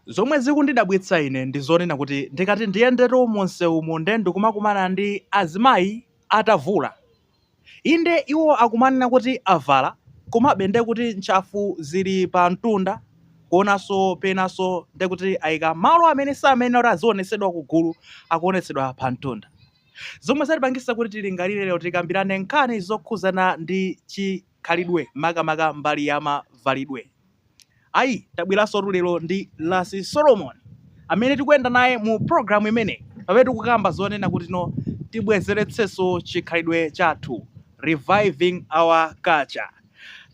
Zomwe zikundidabwitsa ine ndi zonena kuti ndikati ndiyendetu mu msewumu nde ndikumakumana ndi azimayi atavula. Inde iwo akumanena kuti avala komabe nde kuti ntchafu zili pa mtunda kuonanso penanso nde kuti aika malo amene samayenera kuti azionetsedwa kugulu akuonetsedwa pa mtunda. Zomwe zatipangisa kuti tilingalire lero tikambirane nkhani zokhuzana ndi chi. khalidwe makamaka mbali ya mavalidwe. Ayi tabweransotu lero ndi Lasi Solomon amene tikuyenda naye mu programu imeneyi pamene tikukamba zonena kuti no tibwezeretsenso chikhalidwe chathu reviving our culture.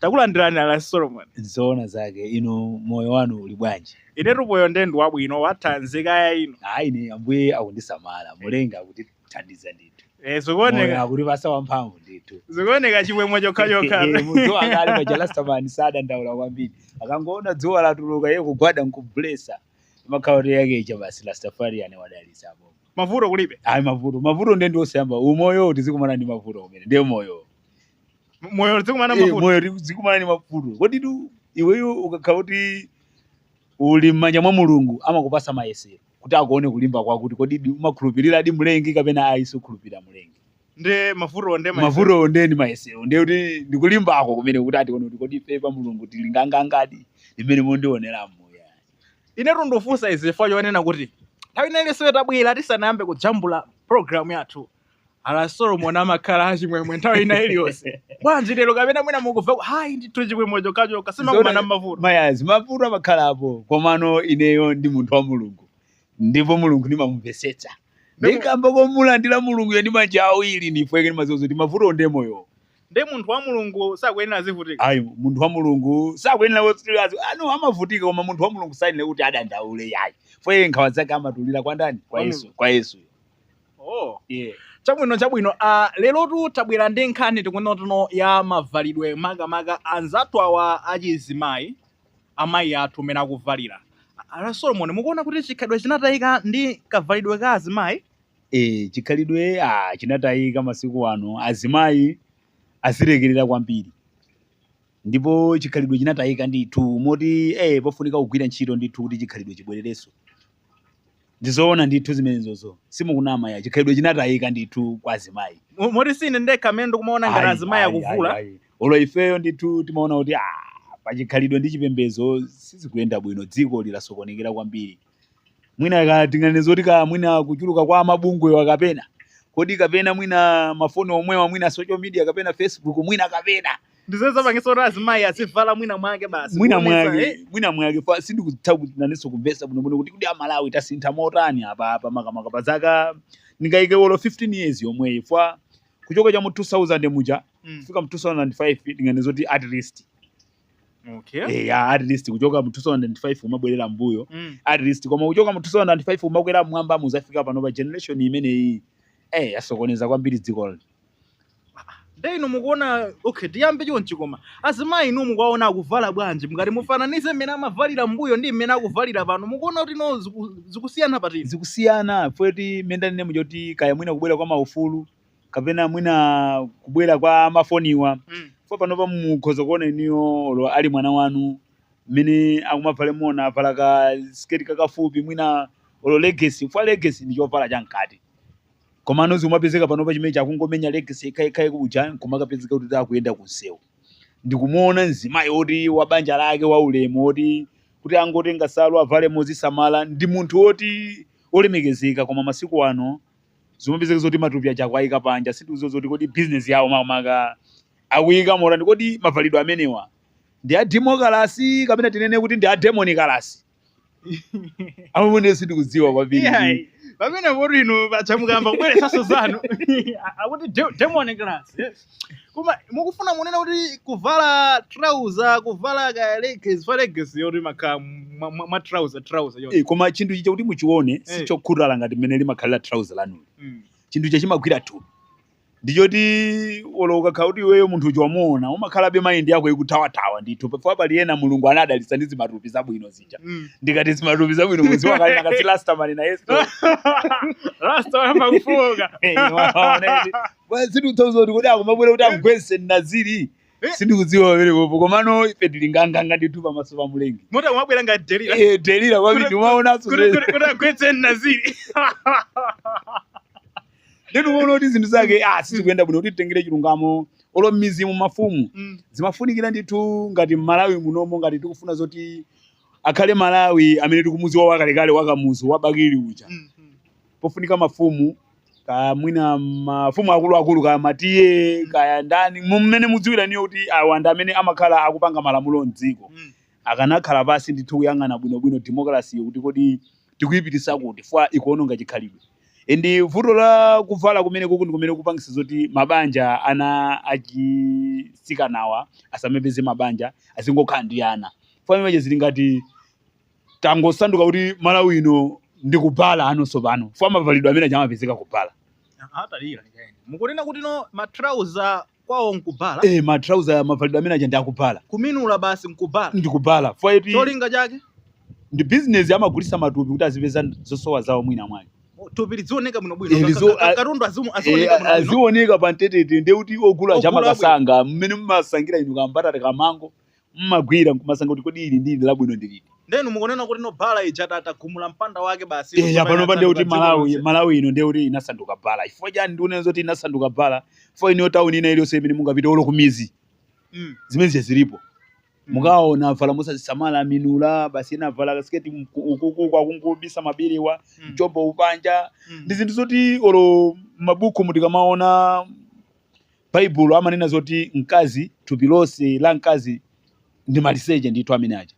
Takulandirani Lasi Solomon. Zoona zake inu moyo wanu uli bwanji? Inetu moyo nde ndi wabwino wathanzi kaya inu. Ayi ine ambuye akundisamala mulenga kuti thandiza ndithu Eh, zikuoneka Moyo akutipasa wamphamvu ndithu zikuoneka chimwemwe chokhachokha Eh, eh, munthu akali paja rastamani sadandaula kwambiri akangoona dzuwa latuluka iye kugwada nkublesa makhauri yake icha basi rastafariani wadalisa apo mavuto kulibe ayi mavuto mavuto nde ndi osayamba umoyo tizikumana ndi mavuto kumene ndiye moyo moyo zikumana Eh, mavuto moyo tizikumana ndi mavuto koditu iweyo ukakhala kuti uli m'manja mwa mulungu amakupasa mayesero kuti akuone kulimba kwako kuti kodidi umakhulupiriradi mlengi kapena ayi sukhulupirira mlengi nde mavutowo nde mayesero. mavutowo ndiye ndi mayesero ndiye kuti ndikulimbako kumene kuti atione kuti kodi ife pa mulungu tili ngangangadi ndi mmene mwandionera moyo inetu ndafunsa izi chifukwa chonena kuti nthawi ina iliyonse tabwera tisanayambe kujambula programu yathu a lasi solomoni amakhala achimwemwe nthawi ina iliyonse bwanji lero kapena mwina mukumva ku- ayi ndithu chimwemwe chokhachokha simmakumana nmavuto mayazi mavuto amakhalapo komano ineyo ndi munthu wa mulungu ndipo mulungu ndimamumvesetsa Ndipo- ndikamba komulandira mulunguyo ndi manja awiri ndiye kuti ndimaziwa kuti mavuto ndi moyo nde munthu wa mulungu sakuyenera azivutika ayi munthu wa mulungu sakuyenera kuti azi- ano amavutika koma munthu wa mulungu sayenera kuti adandaule yayi chifukwa nkhawa zake amatulira kwa ndani kwa Kwa yesu Mulungu. kwa yesu Oh. Yeah. chabwino chabwino uh, lerotu tabwera ndi nkhani yokhudzanatu no ya mavalidwe makamaka anzathu awa achizimayi amayi athu mmene akuvalira a lasi solomon mukuona kuti chikhalidwe chinatayika ndi kavalidwe ka azimayi e, chikhalidwe ah, chinatayika masiku ano azimayi azilekerera kwambiri ndipo chikhalidwe chinatayika ndithu moti eh pofunika kugwira ntchito ndithu kuti chikhalidwe chibwererenso ndizoona ndithu zimenezozo simukunama yayi chikhalidwe chinatayika ndithu kwa azimayi Mo- moti sine ndekha amene ndikumaona ngati Ayi, azimayi ayi, akuvula ayi, ayi. olo ifeyo ndithu timaona kuti ah, pachikhalidwe ndi chipembedzo sizikuyenda bwino dziko linasokonekera kwambiri mwina tinganene zoti ka mwina kuchuluka kwa mabungwewa kapena kodi kapena mwina mafoni omwewa mwina social media kapena facebook mwina kapena ndi zimene zapangitsa kuti azimayi azivala mwina mwake basi mwina kuonetsa, mwake eh, mwina mwake fa sindikutha kuti nanenso kumvesa bwinobwino kuti kuti amalawi tasintha motani apa apa makamaka pa zaka ndingayike olo 15 years yomweyi fa kuchoka cha mu 2000 muja mm, kufika mu 2005 ndinganene zoti at least okay eh ya at least kuchoka mu 2005 umabwerera mbuyo mm. at least koma kuchoka mu 2005 umakwera mmwamba muzafika pano pa generation imeneyi eh yasokoneza kwambiri dziko lino nde inu mukuona okay tiyambe chonchi koma azimayi inu mukuwaona akuvala bwanji mukati mufananize mmene amavalira mbuyo ndi mmene akuvalira pano mukuona kuti no ziku- zikusiyana patini zikusiyana futi mmene ndanene muja oti kaya mwina kubwera kwa maufulu kapena mwina kubwera kwa mafoniwa Mm. fo panopa mukhoza kuona inuyo olo ali mwana wanu mmene akumavalemo, wina avala ka siketi kakafupi mwina olo legesi fwa legesi ndi chovala chamkati komano zimapezeka panopa chimene akungomenya legesi yekhayekhaye kuja nkumakapezeka kuti akuyenda kunsewu ndikumuona mzimayi woti wa banja lake wa ulemu woti kuti angotenga salu avale mozisamala ndi munthu oti olemekezeka koma masiku ano zimapezeka zoti matupi aja akuwaika panja sindikudziwa zoti kodi bizinesi yawo makamaka akuika morani kodi mavalidwe amenewa ndi a demokalasi kapena tinene kuti ndi a demoni kalasi amene sindikudziwa kwambiri Iyayi, pamene kuti inu paja mukamba kubweretsanso zanu akuti de- demon class yes. koma mukufuna munene kuti kuvala trouser kuvala ka leggings fa leggings yoti makhala mwa- mwa mwa trouser trouser yoti Eh, koma chinthu ichi chakuti muchione Eh. sichokhutala ngati mmene limakhalira trouser lanu Mm. chinthu ichi chimagwira thupi ndichoti olo ukakhala kuti iweyo munthu uja wamuona umakhalabe maindi yako ikuthawathawa ndithu pafika pali ena mulungu anadalitsa ndi zimatupi zabwino zija Mm. ndikati zimatupi zabwino muziwa kale nakati Rastaman na yesu Rasta wayamba kufoka. Bwana sindikudziwanso kuti kodi akumabwera kuti amgwese naziri sindikudziwa pamene popo komano ife tili nganganga ndithu pamaso pa mlengi moti akumabwera ngati delila Eh, delila kwambiri timaonanso kuti agwetse naziri ndiye timaona kuti zinthu zake ah, sizikuyenda bwino kuti titengere chilungamo olo m'midzimu mafumu Mm. zimafunikira ndithu ngati m'Malawi munomo ngati tikufuna zoti akhale malawi amene tikumudziwa wakalekale wakamuzu wabakili uja Mm, mm. pofunika mafumu kaya mwina mafumu akuluakulu kaya ma TA kaya ndani mmene mudziwira inuyo kuti awa ndi amene amakhala akupanga malamulo mdziko Mm. akanakhala pasi ndithu kuyang'ana bwinobwino democracy kuti kodi tikuyipitisa kuti fwa ikuononga chikhalidwe and vuto la kuvala kumene kuku ndi kumene kupangisa zoti mabanja ana achisikanawa asamapeze mabanja azingokhala ndi ana fwa image zili ngati tangosanduka kuti malawi ino ndi kubala ano tsopano fwa mavalidwe amene chamapezeka kubala ataimira ndikaye mukunena kuti no matrauza kwawo nkubala eh matrauza mavalidwe amene aja ndi akubala kuminula basi nkubala ndi kubala fwa iti cholinga chake ndi business amagulisa matupi kuti azipeza zosowa zawo mwina mwake thupi lidzioneka bwino Eh, bwino lizo- Ka- ka- a- katundu azimu- Eh, azioneka bwino bwino azioneka pa mtetete nde kuti ogula Ogula aja amaka bwino. kasankha mmene mumasankhira inu kambatata kamango mmagwira nkumasankha kuti kodi ili ndi ili labwino ndi liti Ndiye inu mukunena kuti no bala ija ta- tagumula mpanda wake basi eya tsopano panopa ndiye kuti yatsanduka dziko Malawi lonse. malawi ino ndiye kuti inasanduka bala chifukwa chani ndikunena zoti inasanduka bala fo iniyo tauni ina iliyonse imene mungapite olo kumizi Mm, zimene zija zilipo mm. mukaona avala mosazisamala aminula basi ena avala kasiketi mku- ukuku kungobisa maberewa Mm, mchombo uli panja mm. ndi zinthu zoti olo mabuku mu tikamaona Baibulo amanena zoti mkazi thupi lonse la mkazi ndi maliseche ndithu amene aja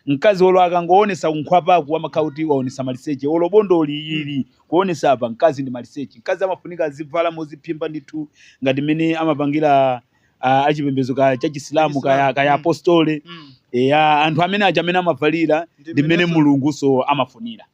mkazi olo akangoonesa kunkhwapaku amakhala kuti waonesa maliseche olo bondoli ili kuonesa apa mkazi ndi maliseche mkazi amafunika azivala moziphimba ndithu ngati mmene amapangira a, achipembezo ka cha chisilamu kaya, kaya mm. apostole mm. eya anthu amene aja mmene amavalira ndi mmene mulunguso amafunira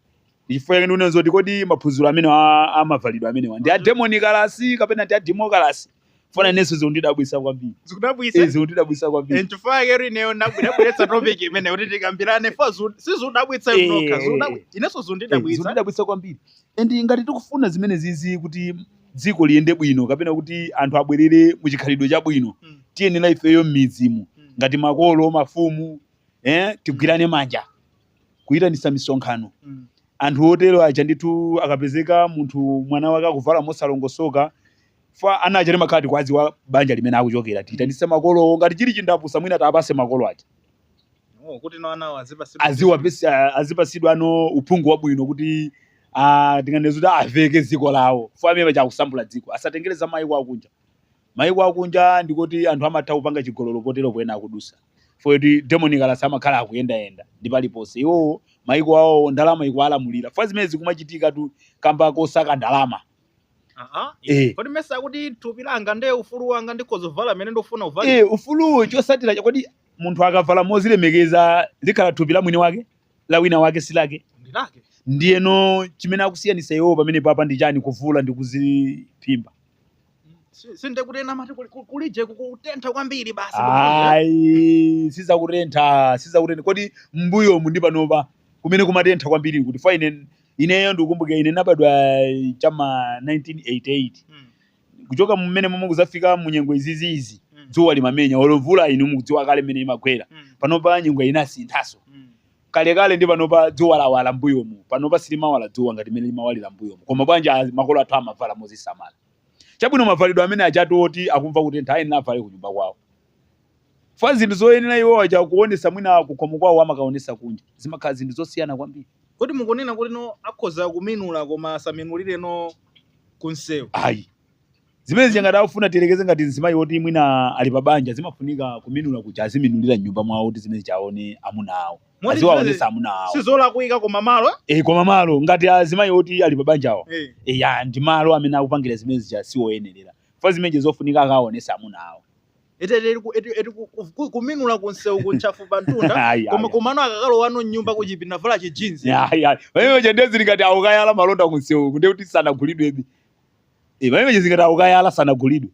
ndi chifukwa chake ndikunena zoti kodi maphunziro amene a- amavalidwe amenewa ndi a demonikalase kapena ndi a demokalase fa na inenso zikundidabwisa kwambiri zikudabwisa Eh, zikundidabwisa kwambiri nchifukwa chake ineyo ndabwe- ndabweretsa topic imene kuti tikambirane fa zu- sizudabwitsa Eh, mnokha eh, eh. inenso Eh, zundidabwitsa zikundidabwisa kwambiri and ngati tikufuna zimenezizi kuti dziko liyende bwino kapena kuti anthu abwerere mu chikhalidwe chabwino Mm. tiyenera ifeyo m'midzi mu Mm. ngati makolo mafumu eh, tigwirane manja kuyitanitsa misonkhano. Mm. Anthu otero aja ndithu akapezeka munthu mwana wake akuvala mosalongosoka fa ana aja timakhala tikuwadziwa banja limene akuchokera tiyitanitse makolowo ngati chili chindapusa mwina tiwapase makolo aja Oh, kuti nawo anawo azipasidwa. aziwapesi- a- azipasidwanso uphungu wabwino kuti ah, tinganene kuti aveke dziko lawo fo amene aja akusambula dziko asatengere za mayiko akunja Maiko akunja ndikoti anthu amatha kupanga chigololo poyera po ena akudusa chifukwa choti demonikalase amakhala akuyendayenda ndi paliponse iwowo maiko awowo ndalama ikuwalamulira chifukwa zimene zikumachitikatu kamba kosaka ndalama Aha. eh Kodi mesa kuti thupi langa ndi ufulu wanga ndikhoza kuvala mmene ndikufuna kuvala? eh ufuluwo chotsatira chake kodi munthu akavala mozilemekeza likhala thupi la mwini wake la wina wake si lake Ndilake. ndiyeno chimene akusiyanisa iwowo pamenepapa ndi chani kuvula ndi kuziphimba Si- si nde kuti ena amati kuli- kuli- kulije kukutentha kwambiri basi ayi sizakutentha sizakutentha kodi mbuyomu ndi panopa kumene kumatentha kwambiri nkuti fa ine ineyo ndikukumbuka ine ndinabadwa chama 1988 Mm, kuchoka mmenemomwe kuzafika mu nyengo iziziizi mm, dzuwa limamenya olo mvula inu mukudziwa kale mmene imagwera mm, panopa nyengo inasinthanso mm, kalekale ndi panopa dzuwa lawala mbuyomu panopa silimawala dzuwa ngati mmene limawalira mbuyomu koma bwanji a- makolo athu amavala mozisamala chabwino mavalidwe amene ajatu oti akumva kutentha ayenera avale kunyumba kwawo fa zinthu zoyenera iwo aja kuonesa mwina kukhomo kwawo amakaonesa kunja zimakhala zinthu zosiyana kwambiri kuti mukunena kuti no akhoza kuminula koma asaminulire no kunsewu ayi zimene zija ngati akufuna tiyerekeze ngati mzimayi woti mwina ali pa banja zimafunika kuminula kuja aziminulira mnyumba mwawo kuti zimene zija aone amuna awo Moti aziwaonesa zimene- amuna awo sizolakwika koma malo e, koma malo ngati azimayi woti ali pa banjawo eh. e, ya ndi malo amene akupangira zimene zija siwoyenerera fa zimenezi zofunika akaonesa amuna awo ete ete ku- ete- ete ku- ku- ku- kuminula kunsewuku ntchafu pa mtunda Ayi, koma ayi. komano akakalowano mnyumba kuchipinda vala chijinzi Ya, ya. pamene paja nde zili ngati akukayala malonda kunsewuku nde kuti sanagulidwebe Eh, pamene paja zingati akukayala sanagulidwe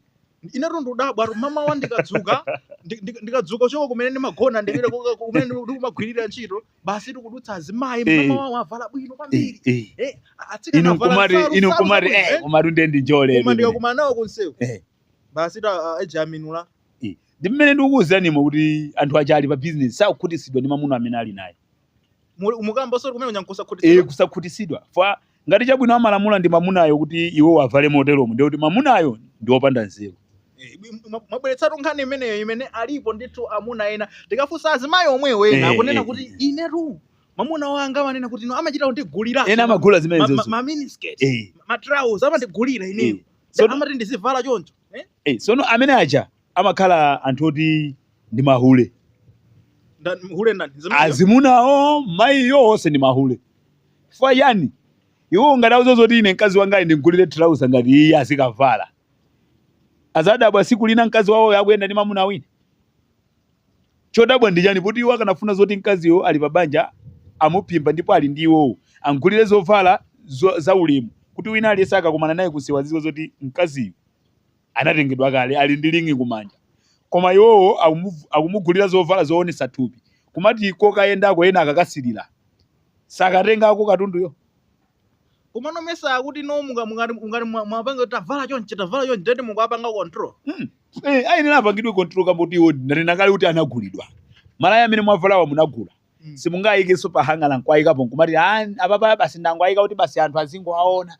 inetu ndudabwa tu mamawa ndikadzuka ndi- ndi- ndikadzuka choka kumene ndimagona ndipita kuka- kumene ndi- ndikumagwirira ntchito basi tikudutsa azimayi Eh. mamawa avala bwino Eh, kwambiri eh. Eh, atsikana inu avala nkumati nsalu- inu nsalu nkumati zabwino, eh eh. komatu nde ndi njole koma inu. ndikakumana nawo kunsewu Eh. basi ta ah, aja aminula ndi mmene ndikukuwuziranimo kuti anthu aja ali pa bizinesi sakukhutitsidwa ndi mamuna amene ali naye Muli- mukamba zoti kuminula nkusakhutitsidwa kusakhutisidwa fa ngati chabwino amalamula ndi mamunayo kuti iwo avale moteromo ndiye kuti mamunayo ndi wopanda nzeru Eh, mwa- mwabweretsatu nkhani imeneyo imene alipo ndithu amuna ena tikafunsa azimayi omwewo ena Eh, akunena eh, kuti eh. inetu mamuna wanga amanena kuti ino amachita kundigulira ena amagula zimenezozo maminiskirt Eh. matrauza amandigulira ineyo Eh. Sono- amati ndizivala choncho eh? Eh, sono amene aja amakhala anthu oti ndi mahule Nda- hule ndani Zimene- azimunawo mayiyo onse ndi mahule chifukwa chani iwo ngati akuziwa zoti ine mkazi wanga ali ndimgulire trausa ngati iye azikavala azadabwa siku lina mkazi wawo akuyenda ndi mamuna wina chodabwa ndi chani poti iwo akanafuna zoti mkaziyo ali pa banja amuphimba ndipo ali ndi iwowo amgulire zovala zo- za ulemu kuti wina aliyense akakumana naye kunsewu aziziwa zoti mkaziyo anatengedwa kale ali ndi ring kumanja koma iwowo akumu- akumugulira zovala zoonesa thupi kumati kokayendako ena akakasilira sakatengako katunduyo komano mesa akuti no munga- mungati mungati mwa- mwapanga kuti tavala chonchi tavala chonchi ndati mukuwapanga control Hmm. Eh, ayenera apangidwe control kamboti iwo ndanena kale kuti anagulidwa malaya amene mwavalawa munagula Mm. simungayikenso pa hanger nkuwayikapo nkumati "Ah, apapa basi ndangowayika kuti basi anthu azingowaona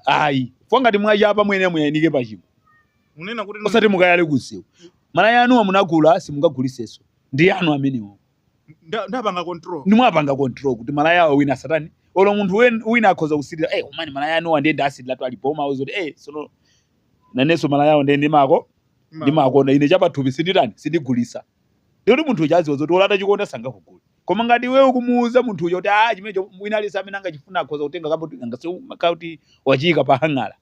ayi fa ngati mwachapa mwene muwayanike pachingwe Munena kuti no- osati mukayale kunsewu malaya anuwa munagula simungaguliseso ndi anu amenewo nda- ndapanga control. nde mwapanga control kuti malaya awo wina asatani olo munthu wen- wina akhoza kusilira eh umani malaya anuwa ndiye ndasiliratu alipo amakuuza kuti eh sono nanenso malaya awo ndiye ndimako ndimakonda ine chapathupi sinditani sindigulisa Ndiye munthu uja aziwa zoti olo atachikonda sangakugule. Koma ngati iwe ukumuuza munthu uja kuti ah chimenecho wina aliyense amene angachifuna akhoza kutenga umakhala ngati wachiyika pa hang'ala.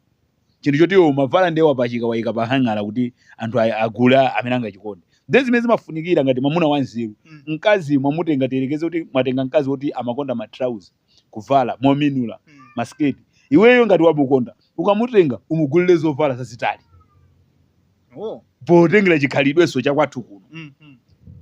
Chinthu choti iwe umavala ndiye wapachika wayika pa hang'ala kuti anthu a- agule a- amene angachikonde. Ndiye zimene zimafunikira ngati mamuna wanzeru. Mm. Mkazi mwamutenga tiyerekeze kuti mwatenga mkazi woti amakonda ma trouser. kuvala mominula masiketi iweyo ngati wamukonda ukamutenga umugulire zovala zazitali Oh. potengera chikhalidwenso chakwathu kuno Mm, mm.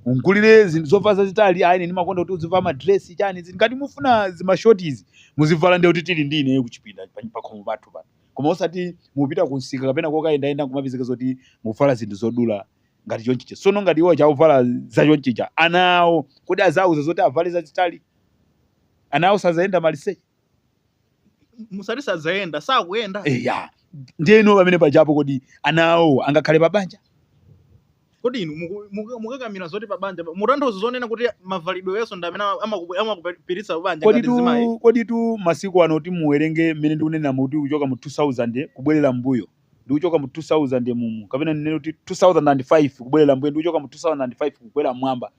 umgulire zinthu zovala zazitali ayine ndimakonda kuti uzivala madresi chani zinthu ngati mufuna zimashotizi muzivala ndikuti tili ndi ineyo kuchipinda pa- pakhomo pathu pano koma osati mupita kunsika kapena kokayendayenda nkumapezeka zoti mwavala zinthu zodula ngati chonchicha sono ngati iwo chauvala za chonchicha ana awo kodi azauza zoti avale zazitali ana awo sadzayenda maliseche musati sadzayenda sakuyenda eya ndiyeno pamene pajapo kodi ana awo angakhale pa banja kodi inu muku- muku- mukakamira zoti pa banja mutanthauza zonena kuti mavalidwe yenso ndi amene amaku- amakupititsa pa banja ngati zimayi koditu koditu masiku ano kuti muwerenge mmene ndikunena kuti kuchoka mu 2000 kubwerera mbuyo ndikuchoka mu 2000 mumu kapena ndinene kuti 2005 kubwerera mbuyo ndikuchoka mu 2005 kukwera mwamba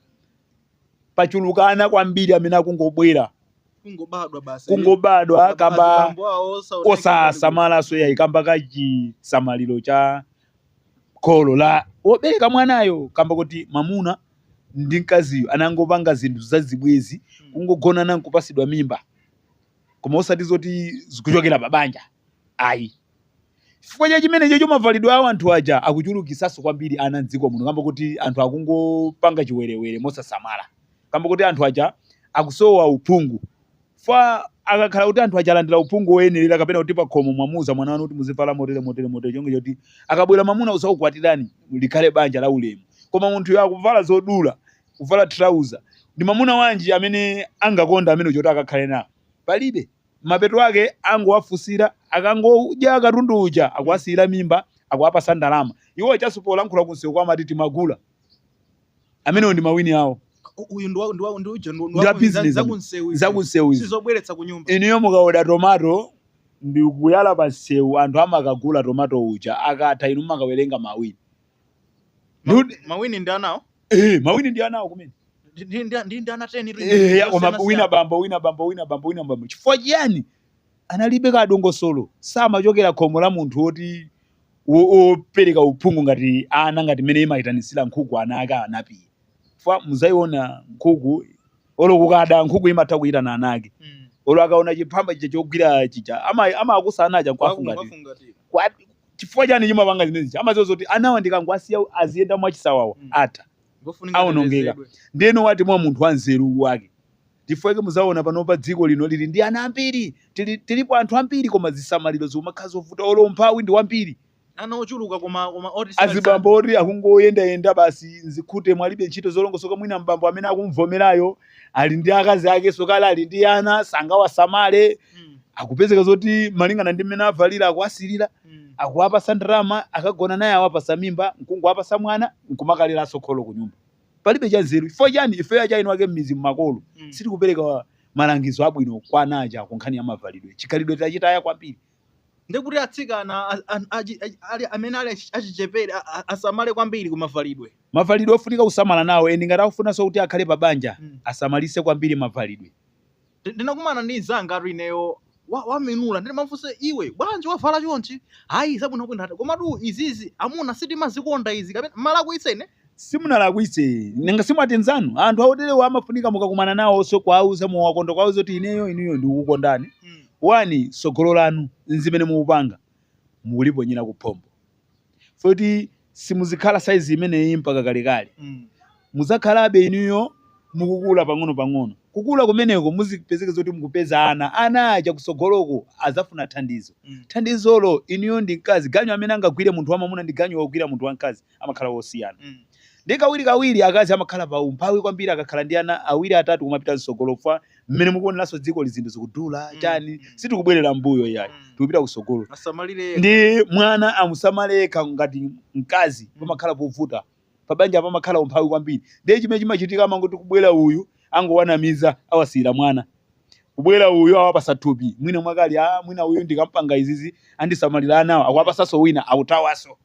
pachuluka ana kwambiri amene akungobwera kungobadwa basi kungobadwa Basi kamba bambo awo osaoneka osasamalanso yayi kamba ka chisamaliro cha kholo la wobereka mwanayo kamba kuti mamuna ndi mkaziyo anangopanga zinthu zazibwezi Mm. kungogonana nkupasidwa mimba koma osati zoti zikuchokera pa banja ayi Chifukwa cha chimenechocho mavalidwe awo anthu aja akuchulukitsanso kwambiri ana m'dziko muno kamba kuti anthu akungopanga chiwerewere mosasamala kamba kuti anthu aja akusowa uphungu fa akakhala kuti anthu aja alandira uphungu woyenerera kapena kuti pakhomo mwamuuza mwana wanu kuti muzivala motere motere motere chonge choti akabwera mamuna azakukwatirani likhale banja la ulemu koma munthuyo akuvala zodula kuvala trouser ndi mamuna wanji amene angakonda amene choti akakhale nawo palibe Mapeto ake angowafunsira, akangodya katundu uja akuwasiyira mimba, akuwapatsa ndalama. Iwo ajanso polankhula kumsewu kuja amati timagula. Amenewo ndi mawini awo. Ku, uyu ndi wa, ndi wa, ndi uja ndi, ndi Ndi wa wa ku- za- business za amu- kunsewu izi. za kunsewu izi. Sizobweretsa ku nyumba. Inuyo mukaoda tomato ndikuyala pa msewu anthu amakagula tomato uja akatha inu mumakawerenga mawini. Ma- Ndiudi- mawini ndi anawo eh mawini ndi anawo kumene Ndi- ndi- ndi- ndi- ndi ana 10 tu- Eh, ya, koma osiyanasiyana. wina bambo wina bambo wina bambo wina bambo chifukwa chiyani analibe kadongosolo samachokera khomo la munthu woti wo- wopereka uphungu ngati ana ngati mmene imayitanitsira nkhuku ana ake anapiye chifukwa muzayiona nkhuku olo kukada nkhuku imatha kuyitana ana ake Mm. olo akaona chiphamba chija chogwira chija ama- amakusa ana aja Kwaku- nkuwafungatira kwafungatira. Kwa- Chifukwa chani chimapanga zimene zija? Amadziwa zoti anawa ndikangowasiya aziyenda mwachisawawa, atha. Ngofunika Awonongeka. atetezedwe. Ndiyeno wati mwa munthu wanzeru wake. Chifukwa chake mudzaona panopa dziko lino lili ndi ana ambiri. Tili, tilipo anthu ambiri koma zisamaliro zikumakhala zovuta olo umphawi ndi wambiri. Ana ochuluka koma, koma oti sinali Azibambo zambiri. oti akungoyendayenda basi m'zikhute mwalibe ntchito zolongosoka mwina m'bambo amene akumuvomerayo ali ndi akazi akenso kale ali ndi ana sangawasamale Mm. akupezeka zoti malingana ndi mmene avalira akuwasilira Mm. akuwapasa ndalama akagona naye awapasa mimba nkungowapasa mwana nkumakaleranso kholo ku nyumba palibe cha nzeru chifukwa chani ifeyo achaini wake mmizimu makolo Mm. sitikupereka malangizo abwino kwa ana aja ku nkhani ya mavalidwe chikhalidwe tachitaya kwambiri ndiye kuti atsikana a- a- achi- achi- ali- amene ali achi- achichepere a- a- asamale kwambiri ku mavalidwe mavalidwe ofunika kusamala nawo eni ngati akufunanso kuti akhale pa banja Mm. asamalise kwambiri mavalidwe Ndi- ndinakumana ndi mzangatu ineyo wa- waminula ndimafunsa iwe bwanji wavala chonchi ayi zabwinobwino ati komatu izizi amuna sitimazikonda izi kapena mmalakwitsa ine simunalakwitse nanga simwati nzanu anthu aoterewa amafunika mukakumana nawoso kwauza muwakonda kwauza kuti ineyo inuyo ndikukondani wani sogolo lanu nzimene mukupanga mukuliponyera kuphompho foti simuzikhala saizi imeneyi mpaka kalekale muzakhalabe inuyo mukukula pang'ono pang'ono kukula kumeneko muzipezeke zoti mukupeza ana ana aja kusogoloko azafuna thandizo thandizolo inuyo ndi mkazi ganyu amene angagwire munthu wamamuna ndi ganyu wogwira munthu wamkazi amakhala wosiyana. Mm. Ndi kawirikawiri akazi amakhala pa umphawi kwambiri akakhala ndi ana awiri atatu kumapita mtsogolo fa mmene mukuoneranso dzikoli zinthu zikudula Mm, chani mm. sitikubwerera mbuyo yayi Mm. tikupita kusogolo Asamalire yekha. ndi mwana amusamale yekha ngati mkazi Mm. pamakhala povuta pabanja pamakhala umphawi kwambiri ndiye chimene chimachitika amangoti kubwera uyu angowanamiza awasiyira mwana kubwera uyu awapasa thupi mwina mwake ali mwina uyu ndikampanga izizi andisamalira anawo akuwapasanso wina akuthawaso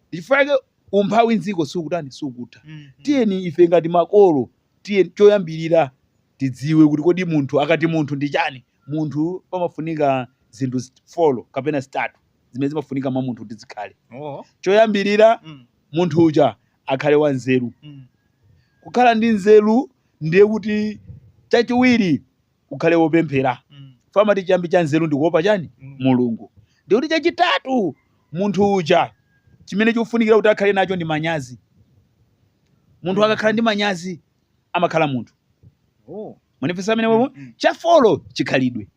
Ndi chifukwa chake umphawi m'dziko sukutani, sukutha. Tiyeni ife ngati makolo, tiyeni choyambirira tidziwe kuti kodi munthu, akati munthu ndi chani. Munthu pamafunika zinthu zi, folo kapena zitatu zimene zimafunika mwa munthu kuti zikhale. Choyambirira, munthu uja akhale wanzeru. Kukhala ndi nzeru ndiye kuti, chachiwiri, ukhale wopemphera Mm. fa amati chiyambi cha nzeru ndi kuopa chani Mm. mulungu ndikuti chachitatu munthu uja chimene chikufunikira kuti akhale nacho ndi manyazi munthu akakhala ndi manyazi amakhala munthu Oh. mwanifesa amene wewe Mm. cha folo chikhalidwe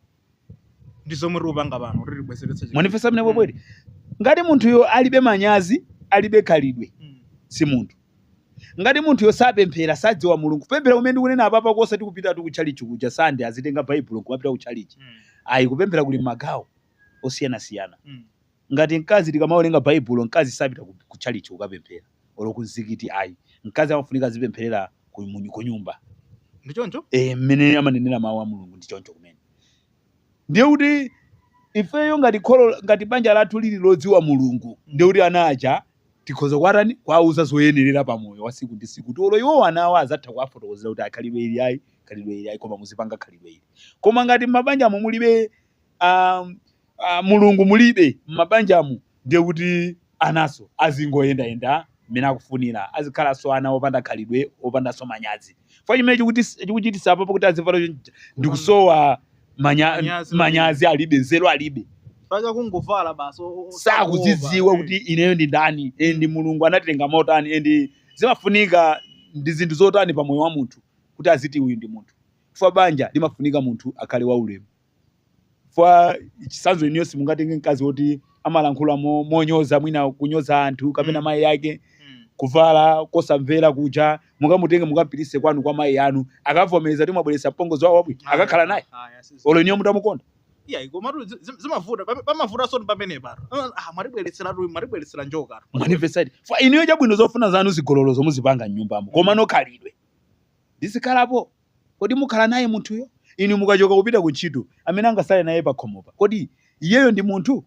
ndi zomwe tikupanga pano kuti tibwezeretse chikhalidwe. mwanifesa amene webwere ngati munthuyo alibe manyazi alibe khalidwe Mm. si munthu Ngati munthuyo sapemphera, sadziwa Mulungu. Kupemphera kumene ndikunena apapa osati kupitatu kutchalitchi kuja Sunday uzitenga Baibulo n'kumapita kutchalitchi. Mm. Ayi, kupemphera kuli m'magawo osiyanasiyana. Mm. Ngati mkazi tikamawerenga Baibulo, mkazi sapita ku- kutchalitchi kukapemphera olo kumzikiti ayi. Mkazi amafunika azipempherera ku- mu- kunyumba. Ndi choncho? Eh, mmene amanenera mawu a Mulungu ndi choncho kumene. ndiye kuti ifeyo ngati kholo ngati banja lathu lili lodziwa mulungu ndiye kuti ana aja tikhoza kuwatani kuwauza zoyenerera pa moyo wa siku ndi siku kuti olo iwowo ana awo azatha kuwafotokozera kuti a khalidwe ili ayi khalidwe ili ayi koma muzipanga khalidwe ili koma ngati m'mabanjamo mulibe um, uh, mulungu mulibe m'mabanjamo ndiye kuti ananso azingoyendayenda mmene akufunira, azikhalanso ana opanda khalidwe, opandanso manyazi. Chifukwa chimene chikuti chikuchititsa apapo kuti azivala chonchi chija ndi Kupanda- kusowa manya, Manyazi. manyazi alibe, nzeru alibe. Bola kungovala basi. o- o- o- sakuzidziwa eh. kuti ineyo ndi ndani eh, and mulungu anatilenga motani eh, and zimafunika ndi zinthu zotani pa moyo wa munthu kuti aziti uyu ndi munthu chifukwa banja limafunika munthu akhale waulemu Chifukwa chitsanzo inuyo simungatenge mkazi woti amalankhula mo- monyoza mwina kunyoza anthu kapena Mm. mayi ake Mm. kuvala kosamvera kuja mukamutenge mukampitise kwanu kwa mayi anu akavomereza kuti mwabweretsa mpongozi wawo wabwino Ayi, akakhala naye ayi, asi- olo inuyo mutamukonda Iya, komatu zi- zi- zimavuta pam- pamavutanso ndi pamene pano Ah, mwatibweretseratu mwatibweretsera njoka manifested fa inuyo chabwino zofuna zanu zigololozo muzipanga mnyumbamo komano khalidwe lizikhalapo Kodi mukhala naye munthuyo? Inu mukachoka kupita ku ntchito, amene angatsale naye pakhomopa, kodi iyeyo ndi munthu?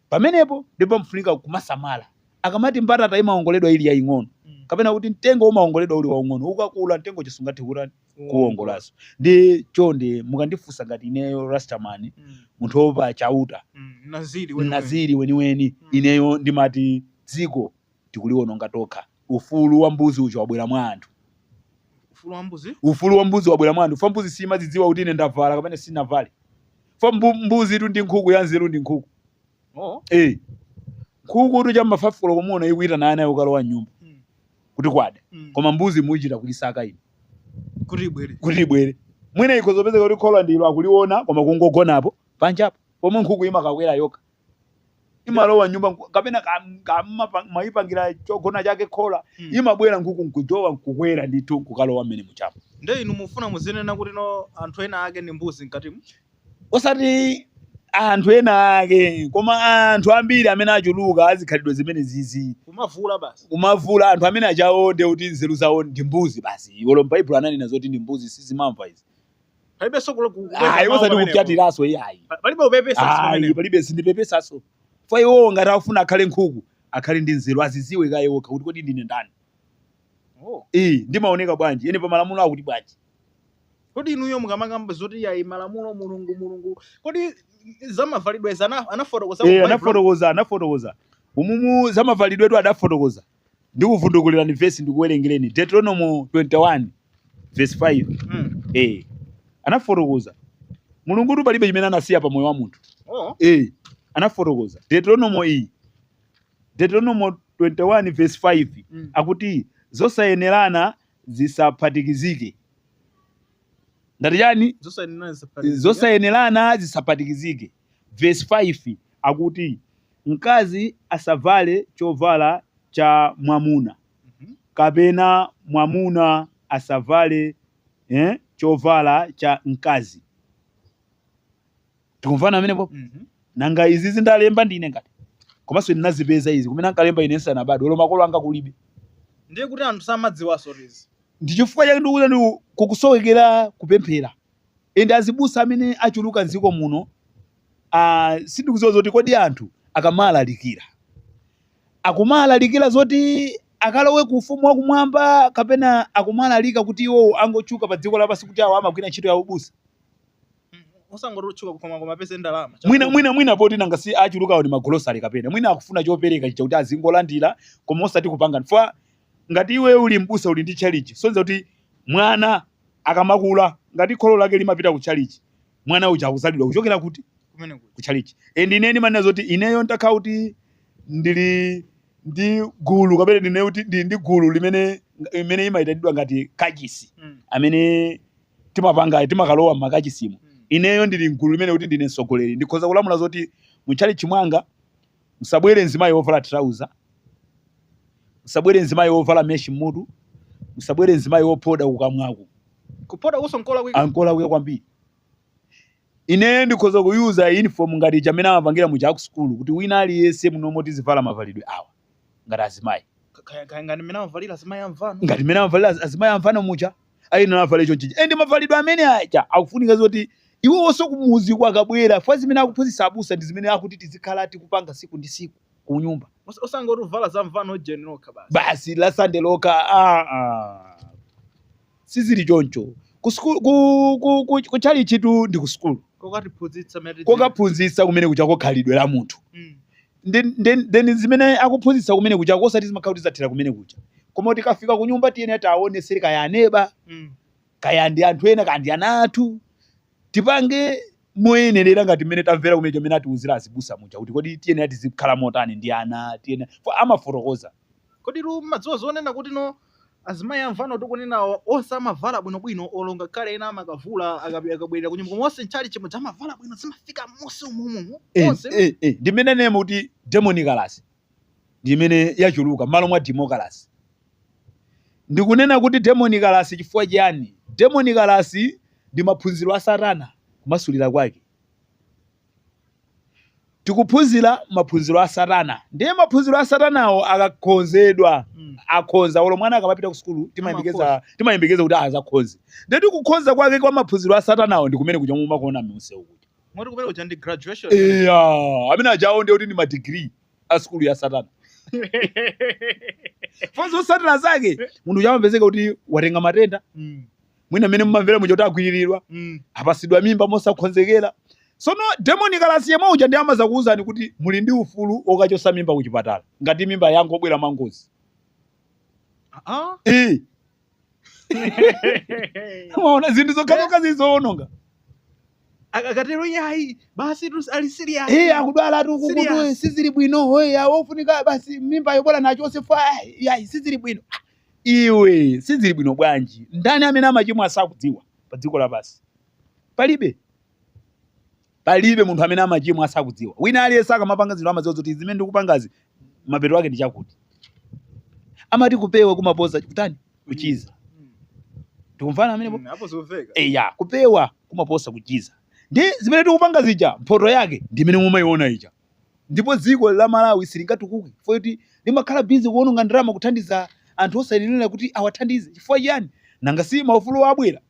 Pamenepo ndipo pamafunika kumasamala. Akamati mbatata imawongoledwa ili yaing'ono, kapena kuti mtengo umawongoledwa uli waung'ono, ukakula mtengo uja sungathe kutani? kuwuwongolanso. Ndiye chonde mukandifunsa ngati ineyo Rasta man, munthu woopa Chauta, Mnaziri weniweni, ineyo ndimati dziko tikuliwononga tokha. Ufulu wa mbuzi uja wabwera mwa anthu. Ufulu wa mbuzi? Ufulu wa mbuzi wabwera mwa anthu. Chifukwa mbuzi siimadzidziwa kuti ine ndavala kapena sinavale. Chifukwa mbu, mbuzitu ndi nkhuku ya nzeru ndi nkhuku. Oh. Eh. Nkhukutu cha m'ma 5 koloko muona ikuyitana ana ikalowa m'nyumba. Mm. Kuti kwada. Mm. Koma mbuzi muchita kuyisaka inu. Kuti ibwere. Kuti ibwere. Mwina ikhoza kupezeka kuti khola ndilo akuliona koma kungogonapo panjapo. Pomwe nkhuku imakakwera yokha. imalowa m'nyumba nku- kapena ka- ka- mapa- mwayipangira chogona chake khola Mm. imabwera nkhuku nkujowa nkukwera ndithu nkukalowa mmene mujamo nde inu mufuna muzinena kuti no anthu ena ake ndi mbuzi mkatimu osati anthu ena ake koma anthu ambiri amene achuluka azikhalidwe zimenezizi kumavula basi kumavula anthu amene ajawo nde kuti nzeru zawo ndi mbuzi basi olo m'baibulo ananena zoti ndi mbuzi sizimamva izi palibenso kule- ku- kupepesa ayi mawu osati pamenepo. kupyatiranso iyayi Pa- palibe kupepesa ayi pamenepo. palibe sindipepesaso fwa iwowo ngati afuna akhale nkhuku akhale ndi nzeru aziziwe kaye okha kuti kodi ndine ndani Oh. iyi ndimaoneka bwanji ine pa malamulo akuti bwanji kodi inuyo mukamakamba zoti yayi malamulo mulungu mulungu kodi zamavalidwezi ana- anafotokoza ku Eh, Bible? anafotokoza anafotokoza umumu zamavalidwetu adafotokoza Ndikuvundukulirani vesi ndikuwerengereni Deuteronomo 21 vesi 5 Mm. eh, anafotokoza mulungutu palibe chimene anasiya pa moyo wa munthu Oh. eh, anafotokoza deuteronomo iyi deuteronomo 21 verse 5 Mm. akuti zosayenerana zisaphatikizike ndati chani Zosayenerana zisaphatikizike. zosayenerana zisaphatikizike Vesi 5 akuti, Mkazi asavale chovala cha mwamuna, kapena mwamuna asavale eh, chovala cha mkazi. Tikumvana pamenepo? Nanga izizi ndalemba ndine ngati? Komanso ndinazipeza izi kumene ankalemba ine nsanabadwe, olo makolo anga kulibe. ndiye kuti anthu samadziwanso izi Ndi chifukwa chake ndikuti kukusowekera kupemphera. and azibusa amene achuluka mziko muno uh, sindikuziwa zoti kodi anthu akamalalikira akumalalikira zoti akalowe ku ufumu wakumwamba kapena akumalalika kuti iwowo angotchuka pa dziko lapansi kuti awo amagwira ntchito ya ubusa osangoti otchuka koma koma apeze ndalama mwina mwina mwina poti nanga si achulukawo ni magolosale kapena mwina akufuna chopereka chija kuti azingolandira koma osati kupanga fwa Ngati iweyo uli m'busa uli ndi tchalitchi, sonza kuti mwana akamakula ngati kholo lake limapita ku tchalitchi, mwana uja akudzalidwa kuchokera kuti? Kumene kuja. Ku tchalitchi. And ine ndimanena zoti ineyo ntakhala kuti ndili ndi gulu kapena ndine kuti ndili ndi gulu limene imene imayitanidwa ngati kachisi mm. amene timapanga timakalowa m'makachisimo mm. ineyo ndili mgulu limene kuti ndine mtsogoleri ndikhoza kulamula zoti mu tchalitchi mwanga Musabwere mzimayi wovala trouser, musabwere mzimayi wovala mesh mmutu, musabwere mzimayi wophoda kukamwaku. Kuphodakuso nkolakwika? Ah, nkolakwika kwambiri. Ineyo ndikhoza ku-user uniform ngati muja mmene amapangira muja aku sukulu kuti wina aliyense munomo tizivala mavalidwe awa ngati azimayi. Kaya, kaya ngati mmene amavalira azimayi amvano. Ngati mmene amavalira azimayi amvano muja. ayenera avale chonchija and mavalidwe amene aja akufunika zoti iwowoso kumudzi kwawo akabwera fukwa zimene akuphunzitsa abusa ndi zimene akuti tizikhala tikupanga siku ndi siku kunyumba Os- osangoti uvala za mvano ujeni lokha basi Basi la sande lokha ah, ah. sizili choncho ku school- ku- ku- ku- ku chalichitu ndi ku sukulu kokatiphunzitsa mmene tidziwe. kokaphunzitsa kumene kujako khalidwe la munthu Mm. Nde- nde- Then zimene akuphunzitsa kumene kutchalitchiko osati zimakhala kuti zathera kumene kutchalitchi koma tikafika ku nyumba tiyenera tiaonesere kaya aneba Mm. kaya ndi anthu ena kaya ndi ana athu tipange moyenerera ngati mmene tamvera kumene chimene atiuzira azibusa muja kuti kodi tiyenera tizikhala motani ndi ana tiyenera fo- amafotokoza Kodi tu mumadziwa zonena kuti no azimayi amvano tikunenawa onse amavala bwinobwino olo ngakhale ena amakavula akapi- akabwerera kunyumba koma onse mchalichi muja amavala bwino zimafika m'munsi umumu Eh, onse no eh, eh, ndi mmene nanenamo kuti demonicalasi ndi imene yachuluka m'malo mwa demokalase ndikunena kuti demonicalasi chifukwa chiyani demonicalasi ndi maphunziro a satana kumasulira kwake tikuphunzira maphunziro a satana ndiye maphunziro a satanawo akakhonzedwa Mm. akhonza olo mwana akamapita ku sukulu timayembekeza timayembekeza kuti azakhonze ndiye kuti kukhonza kwake kwa maphunziro a satanawo ndi kumene kuja mumakuona mumsewu kuja moti kumene kuja ndi graduation eya amene ajawo ndiye kuti ndi madigiri a sukulu ya satana zotsatira zake munthu uja amapezeka kuti watenga matenda Mm. mwina mmene mumamvera muja kuti agwiriridwa Mm. apasidwa mimba mosakhonzekera sono demonicalasi yemwe uja ndiye amazakuwuzani kuti muli ndi ufulu okachosa mimba ku chipatala ngati mimba yangobwera mwangozi Ah. Eh, mwaona zinthu zokhazokha zowononga Ak- akatero yayi basi tu ali serious Eh, akudwala tu ukukutu Serious. sizili bwino ofunika basi mimba yobwera achose chifukwa yayi sizili bwino Iwe sizili bwino bwanji? Ndani amene amachimwa asakudziwa pa dziko lapansi? Palibe. Palibe munthu amene amachimwa asakudziwa. Wina aliyense akamapanga zinthu amadziwa zoti zimene ndikupangazi mapeto ake ndi chakuti. Amati kupewa kumaposa kutani? Kuchiza. Tikumvana pamenepo? Mm, apo zomveka. Eya, kupewa kumaposa kuchiza. Ndi zimene tikupanga zija, mphoto yake ndi imene mumaiona ija. ndipo dziko la Malawi silingatukuke chifukwa choti limakhala busy kuononga ndalama kuthandiza anthu osayenerera kuti awathandize chifukwa chiyani? Nanga si maufuluwa abwera?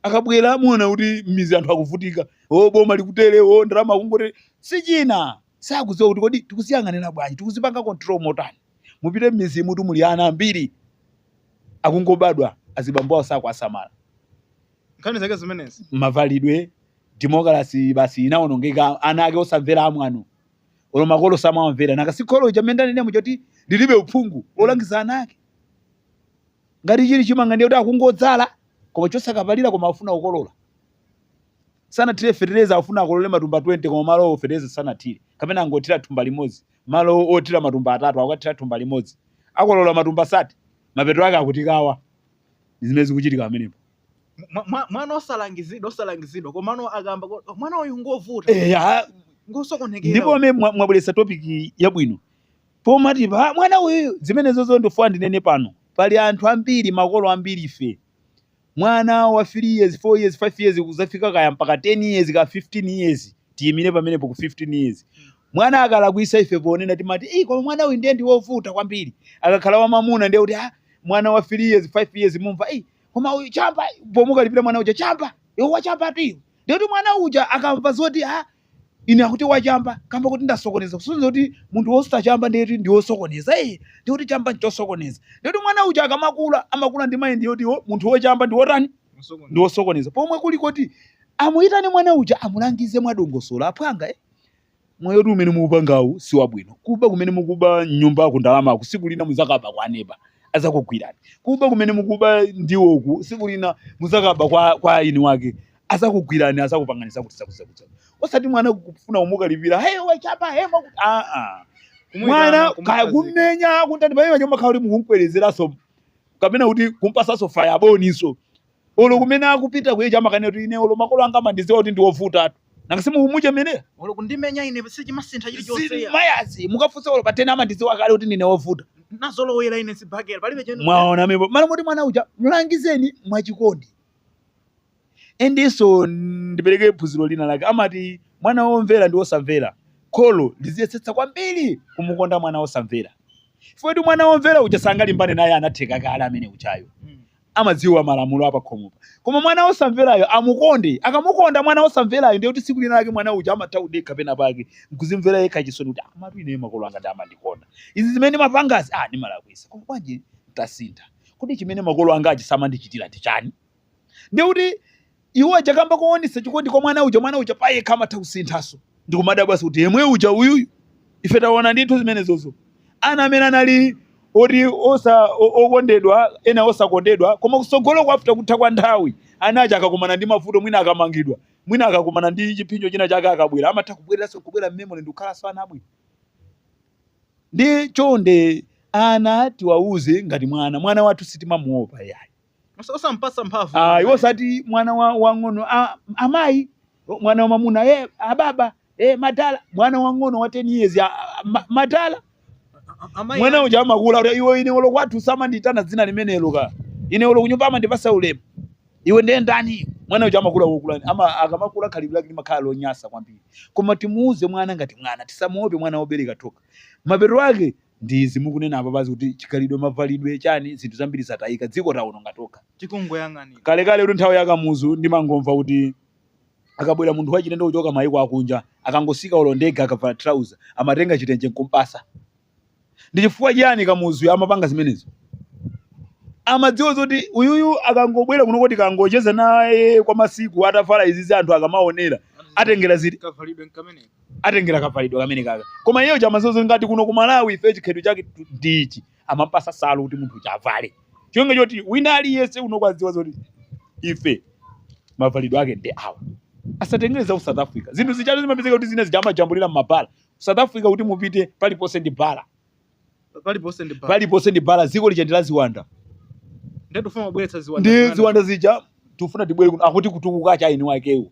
Akabwera muona kuti m'mizi anthu akuvutika, oh boma likutere, oh ndalama akungotere. Si china, sakudziwa kuti kodi tikuziyang'anira bwanji, tikuzipanga control motani. Mupite m'mizimutu muli ana ambiri akungobadwa azibambo awo sakuwasamala. Nkhani zake zimenezi. Mavalidwe, demokalase basi inawonongeka ana ake osamvera amwano olo makolo samawamvera nanga si kholo lija mmene nanenamo choti lilibe uphungu olangiza ana ake ngati chili chimanga ndiye kuti akungodzala koma chosakapalira koma afuna akolole sanathire fetereza afuna akolole matumba 20 koma malo fetereza sanathire kapena angothira thumba limodzi malo othira matumba atatu akukathira thumba limodzi akolola matumba 30 mapeto ake akutukwana zimene zikuchitika pamenepo mwa- mwa- mwana osalangizidwa osalangizidwa komano akamba ko- mwana uyu ngovuta Eh, ya, ngosokonekera ndipo uyu. amene mwa- mwabweresa topiki yabwino pomati pa mwana uyu zimenezozo ndifuna ndinene pano pali anthu ambiri makolo ambiri ife mwana wa 3 years 4 years 5 years kuzafika kaya mpaka 10 years ka 15 years tiyimire pamenepo ku 15 years mwana akalakwisa ife ponena timati "Ih, koma mwana uyu ndiye ndi wovuta kwambiri akakhala wamamuna ndiye kuti ah, mwana wa 3 years 5 years mumva "Ih, koma uyu chamba pomukalipira mwana uja chamba iwo wachambatu iwo ndikuti mwana uja akamva zoti a ine akuti wachamba kamba kuti ndasokoneza kusonyeza kuti munthu wosachamba ndiye kuti ndi wosokoneza iye ndikuti chamba nchosokoneza ndikuti mwana uja akamakula amakula ndi mind yoti wo- munthu wochamba ndi wotani ndi wosokoneza pomwe kuli kuti amuyitane mwana uja amulangize mwadongosolo aphwanga eh? Moyotu umene mukupangawu siwabwino. Kuba kumene mukuba mnyumbaku ndalamaku siku lina muzakaba kwa neba azakugwirani. Kuba kumene mukuba ndiwoku siku lina muzakaba kwa kwa eni wake azakugwirani azakupangani zakuti zakuti zakuti. zakuti. Osati mwana kufuna kumukalipira hey wachamba hey mwakuti aa. Mwana Kumuitana, kaya kumukhazika. kumenya kuntani pamene paja umakhala kuti mukumkwerezeranso kapena kuti kumpasanso faya boninso. olo kumene akupita kuyeja amakanena kuti ine olo makolo anga amandidziwa kuti ndiwovutatu nanga simukumuchemerera olo kundimenya ine sichimasintha chilichonse zili ya mayazi mukafunsa olo patena amandidziwa kale kuti ndine wovuta nazolowera ine sibhakera palibe chenu mwaona mepo mala moti mwana uja mlangizeni mwachikondi endiso ndipereke phunziro lina lake amati mwana womvera ndi wosamvera kholo liziyesetsa kwambiri kumukonda mwana wosamvera foti mwana womvera uja sangalimbane naye anatheka kale ameneujayo Mm. amadziwa malamulo apakhomopa koma mwana wosamverayo amukonde akamukonda mwana wosamverayo ndiye kuti tsiku lina lake mwana uja amatha kudekha pena pake nkuzimvera yekha chisoni kuti amatu ine makolo anga ndi amandikonda izi zimene mapangazi ah ndimalakwisa koma bwanji nditasintha kodi chimene makolo angachi samandichitira ndi chani ndiye kuti Iwowo kamba kowonetsa chikondi kwa mwana uja, mwana uja payekha amatha kusinthanso ndi kumadabwanso kuti yemwe uja uyuyu? Ife tawona ndithu zimenezozo. Ana amene anali oti osa o- okondedwa, ena osakondedwa, koma kutsogoloku after kutha kwa nthawi, ana aja akakumana ndi mavuto, mwina akamangidwa, mwina akakumana ndi chipsinjo china chake akabwera, amatha kubwereranso nkubwera m'memore ndi kukhalanso ana abwino. Ndiye chonde ana tiwauze ngati mwana, mwana wathu sitimamuopa iyayi. Osa- osampatsa mphamvu Ah, iwo osati mwana wa wang'ono ah, amayi mwana wamamuna eh, ababa eh, madala mwana wang'ono wa 10 years ah, ah, ma- madala A- amayi mwana ake- uja amakula kuti iwe ine olo kwathu samanditana dzina limenelo ka ine olo kunyumba amandipasa ulemu iwe ndiye ndani mwana uja amakula wokulani ama akamakula khalidwe lake limakhala lonyasa kwambiri koma timuuze mwana ngati mwana tisamuope mwana wobereka tokha mapeto ake ndi izi mukunena apapazi kuti chikhalidwe mavalidwe chani zinthu zambiri zataika dziko taononga tokha tikungoyang'anira. kalekaletu nthawi ya kamuzu ndimangomva kuti akabwera munthu wachilendo kuchoka maiko akunja akangotsika olo ndege akavala trouser amatenga chitenje nkumpatsa ndi chifukwa chiyani kamuzuyo amapanga zimenezo amadziwa zoti uyuyu akangobwera kuno kuti akangocheza naye kwa masiku atavala izizi anthu akamaonera atengera ziti kavalidwe nkameneka atengera kavalidwe kamenekaka koma iyeyo amadziwa zoti kuno ku malawi ife chikhalidwe chake ndi ichi amampatsa nsalu kuti munthu uja avale cholinga choti wina aliyense akudziwa zoti ife mavalidwe ake ndi awa asatengere za ku south africa zinthu zijatu zimapezeka kuti zina zija amajambulira mmabala south africa kuti mupite paliponse ndi bala paliponse ndi bala paliponse ndi bala dziko lija ndi la ziwanda ndiye tifuna kubweretsa ziwanda ndi zanu. ziwanda zija tifuna tibwere kuno akuti kutukuka cha eni wakewo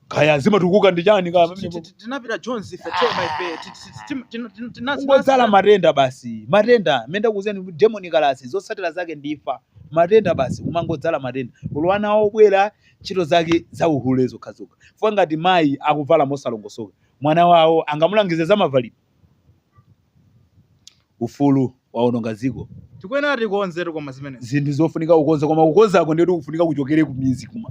kaya zimatukuka ndi chani kaya Ti- ti- ti- tinapita jones ife che my pe Ti- ti- ti- tim- tin- tin- tinasi- kungodzala matenda basi matenda menda kuzeni demokalase zotsatira zake ndi imfa matenda basi kumangodzala matenda uli wa ana obwera ntchito zake za uhule zokhazokha chifukwa ngati mayi akuvala mosalongosoka mwana wawo angamulangize za mavalidwe ufulu waononga dziko tikuyenera tikonze koma zimenezi zinthu zofunika kukonza koma kukonzako ndiye tikufunika kuchokere kumidzi kuma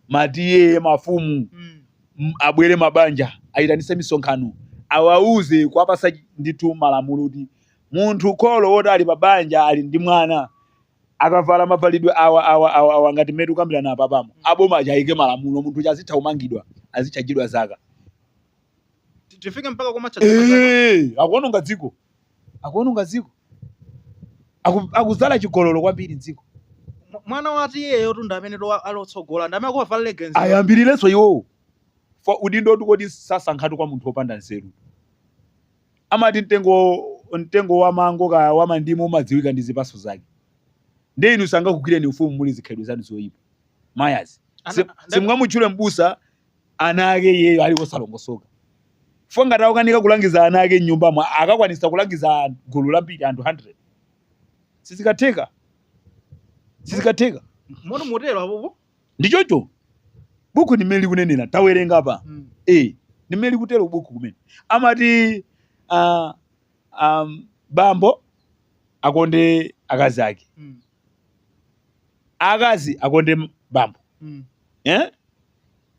ma T/A mafumu Mm. m- abwere mabanja ayitanise misonkhano awauze kuwapatsa ndithu malamulo kuti munthu kholo woti ali pa banja ali ndi mwana akavala mavalidwe awa awa awa awa ngati mmene tikukambirana apapamu aboma aja ayike malamulo munthu uja azitha kumangidwa azitchajidwa zaka Ti- tifike mpaka komatsa dziko zake. Eh, akuononga dziko akuononga dziko Aku- akudzala chigololo kwambiri mdziko Mw- mwana wati iyeyotu ndi amene to ali otsogola ndi amene akuvala legenzi ayambirirenso iwowo Fa- udindo nditu kuti sasankhatu kwa munthu wopanda nzeru amati mtengo mtengo wa mango kaya wa mandimu umadziwika ndi zipatso zake ndi inu sangakugwireni ufumu muli ndi zikhalidwe zanu zoyipa mayazi Ana- Si- simungamutchule mbusa ana ake iyeyo ali wosalongosoka chifukwa ngati akukanika kulangiza ana ake m'nyumbamo akakwanitsa kulangiza an- gulu lambiri anthu 100 sizikatheka sizikatheka mwa njira imeneyo apopo ndi choncho buku ndi mmene likunenera tawerenga apa Mm. eh ndi mmene likutero buku kumene amati ah, um, bambo akonde akazi ake Mm. akazi akonde m- bambo Mm. eh?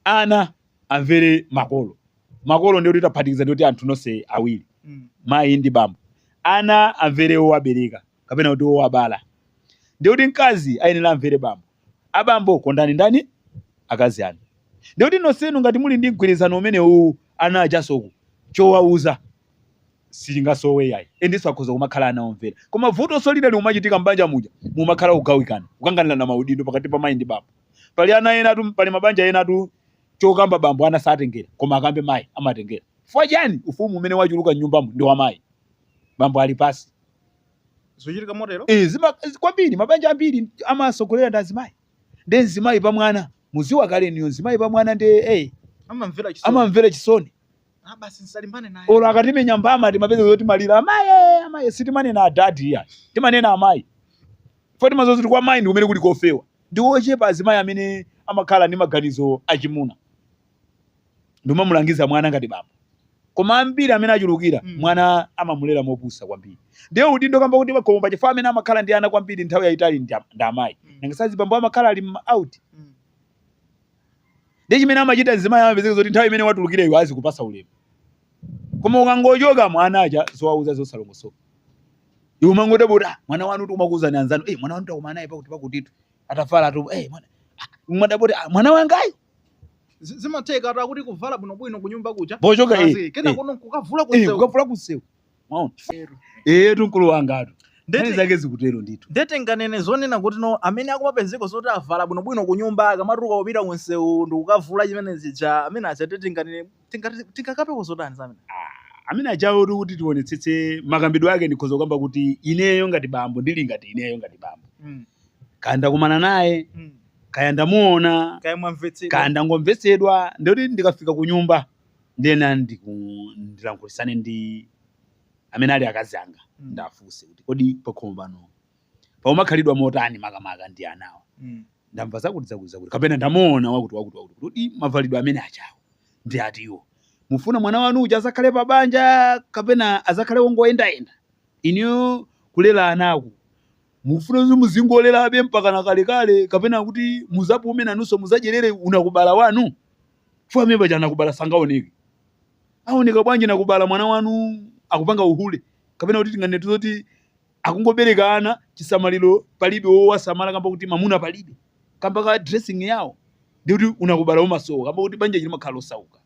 Ana amvere makolo. Makolo ndiye kuti taphatikiza ndiye kuti anthu nonse awiri, Mm. mayi ndi bambo. Ana amvere wowabereka kapena kuti wowabala. Ndiye kuti mkazi ayenera amvere bambo. Abambo kondani ndani? Akazi anu. Ndiye kuti nonsenu ngati muli ndi mgwirizano umenewuwu ana ajanso ku- chowauza sichingasowe iyayi endiso akhoza kumakhala ana omvera koma vutonso lina likumachitika m'banja muja mumakhala kugawikana kukanganirana maudindo pakati pa mayi ndi bambo pali ana enatu pali mabanja enatu chokamba bambo ana satengera koma akambe mayi amatengera chifukwa chani ufumu umene wachuluka m'nyumbamo ndi wa mayi bambo ali pasi zochitika motero Eh, zima- zi- kwambiri mabanja ambiri amasogoleredwa ndi azimayi nde mzimayi pa mwana muziwa kale iniyo mzimayi pa mwana nde eh, amamvera chisoni amamvera chisoni Ah, basi nisalimbane naye. olo akatimenya mbama timapeza zoti timalira amayi amayi sitimanena adadi iya timanena amayi foti maziwa zoti kwa mayi ndi kumene kuli kofewa ndi ochepa azimayi amene amakhala ndi maganizo achimuna ndi kumamulangiza mwana ngati bambo koma ambiri amene achulukira Mm. mwana amamulera mopusa kwambiri ndiye udindo kamba kuti pakhomo pa chifukwa amene amakhala ndi ana kwambiri nthawi yayitali ndi am- ndi amayi Mm. nanga si azibambo amakhala ali m- out Mm. Ndiye chimene amachita mzimayi amapezeka zoti nthawi imene watulukira iwe azikupasa ulemu. Koma ukangochoka mwana aja zowauza zosalongosoka. Iwe umangodabwa tu ah, mwana wanutu amakuuzani anzanu. Eh mwana wanu takumana naye pakuti pakutitu. Atavalatu eh mwana. Ah, wadabwatu ah, mwana wangayo zimatheka ati kuti kuvala bwinobwino kunyumba kuja pochoka eh, kena eh. kuno kukavula eh, kunsewu kukavula kunsewu mwaona eyetu mkulu wangatu nkhani Ndete- zake zikutero ndithu ndete nganene zonena kuti no amene akumapezeka zoti avala bwinobwino ku nyumba akamatuluka kupita ku msewu ndikukavula zimene zija amene aja ndete tinganene tingati- tingakambeko zotani za amene amene ajawo tu kuti tionetsetse makambidwe ake ndikhoza kukamba kuti ineyo ngati bambo ndili ngati ineyo ngati bambo Mm, kaya ndakumana naye mm. kaya ndamuona kaya mwamvetsedwa kaya ndangomvetsedwa ndikuti ndikafika ku nyumba ndena ndiku- ndilankhulisane ndi amene ali akazi anga Mm. ndafunse kuti kodi pakhomo pano paumakhalidwa motani makamaka ndi anawa Mm. ndamva zakuti zakuti zakuti kapena ndamuona wakuti wakuti wakuti kuti "Ii, mavalidwe amene ajawo ndi atiwo mufuna mwana wanu uja azakhale pa banja kapena azakhale wongoyendayenda iniyo kulera anaku mufuna kuti muzingolerabe mpaka na kalekale kapena kuti muzapume nanunso muzadyerere unakubala wanu chifukwa amene paja anakubala sangaoneke aoneka bwanji nakubala mwana wanu akupanga uhule kapena kuti tinganene zoti akungobereka ana chisamaliro palibe wowasamala kamba kuti mamuna palibe kamba ka dressing yawo ndi kuti unakubala umasowa kamba kuti banja lija limakhala osauka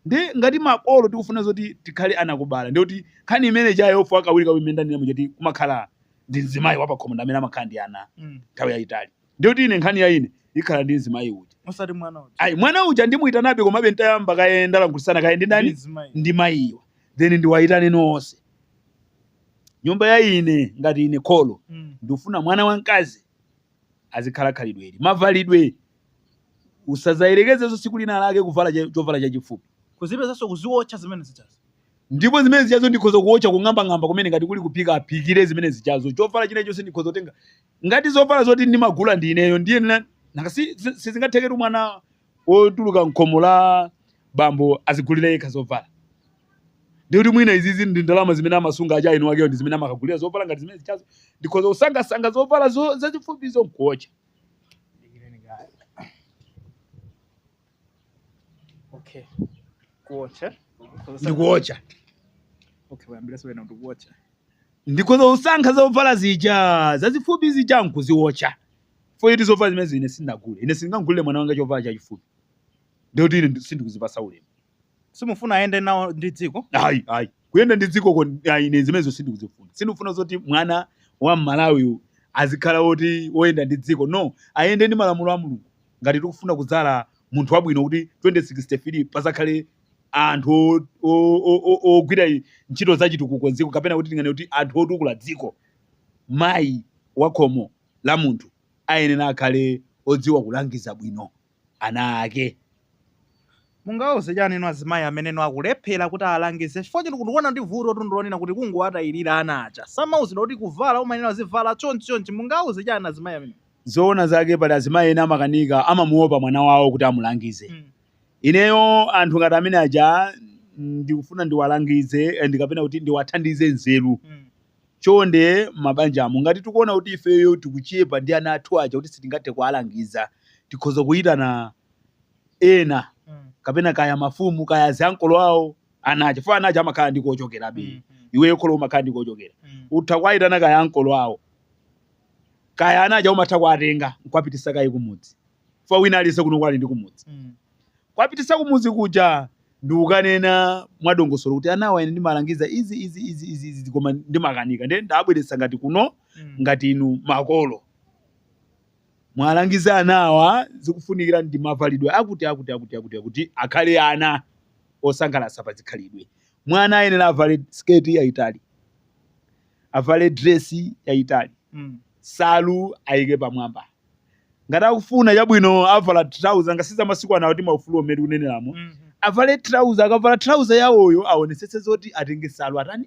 ndi ngati makolo tikufuna zoti tikhale anakubala ndi kuti nkhani imene ijayo ofu akawiri kawiri imene ndanena muja kuti kumakhala ndi mzimayi wapakhomo ndi amene amakhala ndi ana Mm. nthawi yayitali ndiye kuti ine nkhani ya ine ikhala ndi mzimayi uja osati mwana uja ayi mwana uja ndimuyitanabe komabe ntayamba kaye ndalankhulitsana kaye ndi ndi ndani mzimayi ndi mayiwa then ndiwayitane nonse nyumba mwa ine ngati ine kholo Mm. ndifuna mwana wamkazi azikhala khalidwe ili mavalidwe usazayerekezenso tsiku lina lake kuvala cha- chovala chachifupi kuzipezanso kuziwotcha zimene zichazo ndipo zimene zichazo ndikhoza kuwotcha kung'ambang'amba kumene ngati kuli kuphika aphikire zimene zichazo chovala china chonse ndikhoza kutenga Ngati zovala zoti ndimagula ndi ineyo ndiye na- nanga si- si- sizingatheketu mwana wotuluka mkhomo la bambo azigulira yekha zovala ndikuti mwina izizi ndi ndalama zimene amasunga a jainu wakeyo ndi zimene amakagulira zovala ngati zimene zichazo ndikhoza kusankhasankha zovala zo- zazifupizo nkuocha Okay. Kuocha. ndikuocha Okay, wayambira so wena ndikuocha. ndikhoza kusankha zovala zija zazifupi zija nkuziwotcha chifukwa choti zovala zimenezo ine sindagule ine sindingamgulire mwana wanga chovala chachifupi ndikuti ine ndi- sindikuzipasa ulemu simufuna ayende nawo ndi dziko ayi ayi kuyenda ndi dzikoko ayi ine zimenezo sindikuzifuna sindikufuna zoti mwana wa mmalawi uyu azikhala woti woyenda ndi dziko no ayende ndi malamulo a mulungu ngati tikufuna kudzala munthu wabwino kuti 2063 pazakhale anthu o- o- o- o- ogwira i- ntchito za chitukuko dziko kapena kuti tinene kuti anthu otukula dziko mayi wa khomo la munthu ayenera akhale odziwa kulangiza bwino ana ake. Mungawauze chani inu azimayi amene akulephela kuti awalangize chifukwa choti ndikuona kuti vutotu ndilonena kuti kungowatayilila ana aja samauzidwa kuti kuvala umayenela azivala chonchi chonchi mungawauze chani azimayi amenewo. Zoona zake pali azimayi ena amakanika amamuopa mwana wawo kuti amulangize ineyo anthu ngati amene aja ndikufuna ndiwalangize and kapena kuti ndiwathandize nzeru. Chonde m'mabanjamo, ngati tikuona kuti ifeyo tikuchepa ndi ana athu aja kuti sitingathe kuwalangiza, tikhoza kuitana ena kapena kaya mafumu kaya aziankolo awo ana aja chifukwa ana aja amakhala ndi kochokerabe. Iweyo kholo umakhala ndi kochokera. Utha kuwaitana kaya ankolo awo kaya ana aja umatha kuwatenga n'kuwapititsa kaye kumudzi. chifukwa wina aliyense kuno ku ali ndi kumudzi Mm. kwapitisa kumudzi kuja ndikukanena mwadongosolo kuti anawa ine ndimalangiza izi izi izi izi izi koma ndimakanika nde ndawabweretsa ngati kuno Mm. ngati inu makolo muwalangize anawa zikufunikira ndi mavalidwe akuti akuti akuti akuti akuti akhale ana osangalatsa pa zikhalidwe mwana ayenera avale sketi yayitali avale dresi yayitali Mm. salu ayike pamwamba ngati akufuna chabwino avala trouser ngati za masiku anowo kuti maufulu omwe tikuneneramo Mhm. avale trouser akavala trouser yawoyo aonetsetse zoti atenge nsalu atani